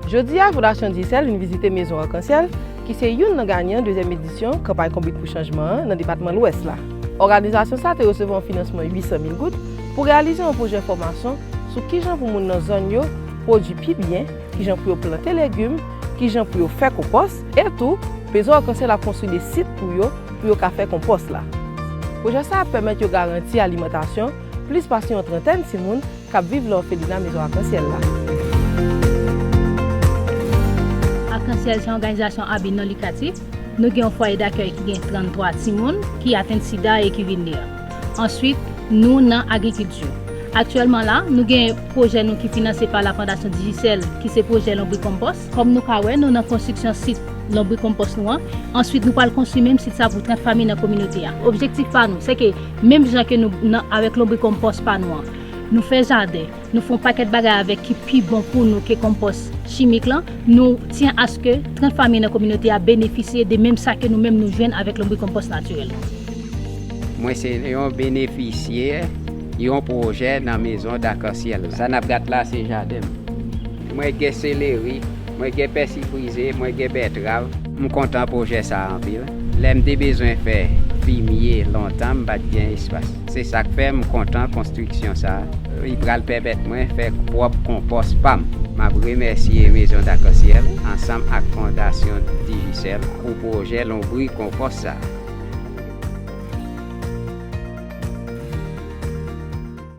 Jodi a, Fondasyon Dyesèl vin vizite Mezon Arkansyèl, ki se youn nan ganyan dezyèm edisyon Kanpay Konbit pou Chanjman an nan depatman Lwès la. Òganizasyon sa te resevwa yon finansman 800 mil goud pou reyalize yon pwojè fòmasyon sou kijan pou moun nan zòn yo pwodui pi byen, kijan pou yo plante legim, kijan pou yo fè konpòs, e tou Mezon Arkansyèl ap konstwi de sit pou yo pou yo ka fè konpòs la. Pwojè sa ap pèmèt yo garanti alimantasyon plis pase yon trantèn timoun k ap viv lè òfelina Mezon Akansyèl la. Akansyèl se yon òganizasyon a bi non likatif. Nou gen yon fwaye dakèy ki gen 33 timoun ki atenn sida e ki vin li a. Answit, nou nan agrikilti. Aktyèlman la, nou gen pwojè nou ki finanse pa la Fondasyon Digicel ki se pwojè lonbri konpòs. Kòm nou ka wè, nou nan konstriksyon sit lonbrikonpòs nou an. Answit, nou pral konstwi menm sit sa pou 30 fanmi nan kominote a. Objektif pa nou, se ke menm jan ke nou nan avèk lonbrikonpòs pa nou an, nou fè jaden, nou fè yon pakèt bagay avèk ki pi bon pou nou ke konpòs chimik lan, nou tyen aske 30 fanmi nan kominote a benefisye de menm sa ke nou menm nou jwenn avèk lonbrikonpòs natirèl lan. Mwen se yon benefisyè yon pwojè nan Maison d'arc-en-ciel. Sa nap gat la se jaden m. Mwen gen seleri, mwen gen pèsi frize, mwen gen bètrav. M kontan pwojè sa a anpil. Lè m te bezwen fè fimye lontan m pat gen espas. Se sa k fè m kontan konstriksyon sa a. Li pral pèmèt mwen fè pwòp konpòs pa m. M ap remèsye Maison d'Arc-en-Ciel ansanm ak Fondasyon Digicel pou pwojè lonbrik konpòs sa a.